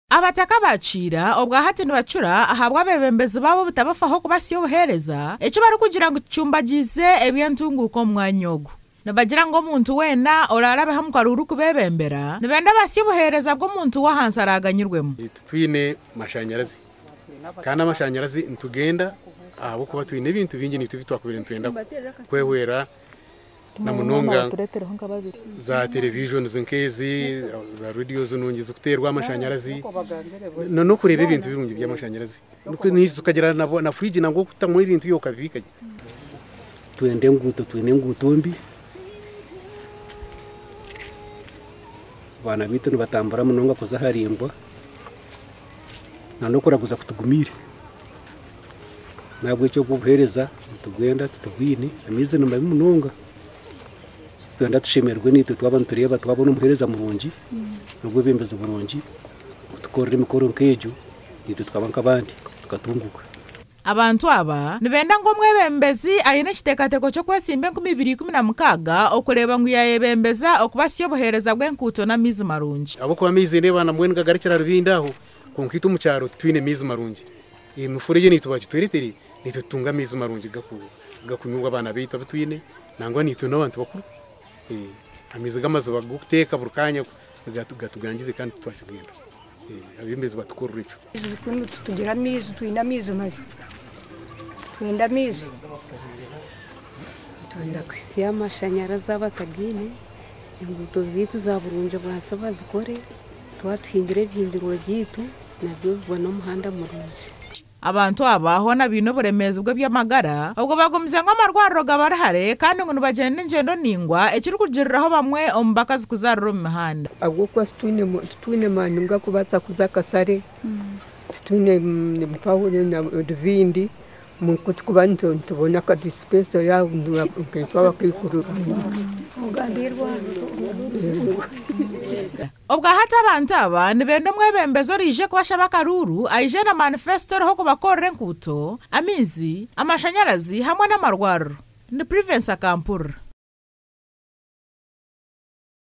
Abataka ba kiira obwa hati nibacura ahabw'abeebembezi baabo obutabafaho kubatsya obuheereza, eki barikugira ngu kicumbagyize eby'entunguuka omu mwanya ogu. Nibagira ngu omuntu weena oraarabeho omu karu orikubeebembera, nibenda abatsye obuheereza bw'omuntu w'ahansi araaganyirwemu. Titwine mashanyarazi, kandi amashanyarazi nitugenda ahabw'okuba twine ebintu bingi naitwe ebi twakubaire nitwenda kwehwera. na munonga za televisions nk'ezi za radios nungi zikuteerwa amashanyarazi na n'okureeba ebintu birungi by'amashanyarazi tukagira na fridge nangwa okutamu ebintu byawe okabibiika gye twenda enguuto twine enguuto mbi abaana baitu nibatambura munonga kuza aharimbwa na n'okuraguza kutugumiire nahabwekyo obw'obuhereza nitubwenda titubwine amaizi nimabi munonga nitwenda tushemererwe naitwe twaba nitureeba twabona omuhereza murungi nobwebembezi burungi kutukorera emikoro nk'egyo naitwe tukaba nk'abandi tukatunguka. Abantu aba nibenda ngu omwebembezi aine ekiteekateeko ky'okwesimba enkumi ibiri ikumi na mukaaga okureeba ngu yaayebembeza okubatsya obuheereza bw'enkuuto n'amaizi marungi. Ahabw'okuba amaizi nindeeba na mbwenu gagarukira Rubindi aho, kwonka itwe omu kyaro titwine maizi marungi. Emifura egyo naitwe bagitweretere, naitwe tutunge amaizi marungi gakunywa obu abaana baitu abu twine nangwa naitwe n'abantu bakuru. Amaizi g'amaziba g'okuteeka buri kaanya gatugangize kandi titwakigwenda. Abebembezi batukorere ekyo. Titugira amaizi, twine amaizi mabi. Nitwenda amaizi. Nitwenda kuhitsya amashanyarazi abatagaine. Enguuto zaitu za burungi bwansi bazikore. Twaba tuhingire ebihingirwe byaitu, nabyo bibone omuhanda murungi. Abantu aba hoona baine oburemeezi bw'eby'amagara obwo bagumize ngu amarwariro gabari hare kandi ngu nibagyenda engyendo naingwa ekirikugiriraho bamwe omu bakazi kuzaarira omu mihanda. Ahabw'okuba titwine maani g'akubaasa kuza akasare, titwine mpaho na ruvindi. Ku tukuba nitubona akadisipensa yaahindura nkaitwe abakaikuru. Obwahati abantu aba nibenda omwebembezi oraije kubashaba akaruuru aije na manifesito eriho ku bakorera enkuuto, amaizi, amashanyarazi hamwe n'amarwariro. Ni Privence akampurira.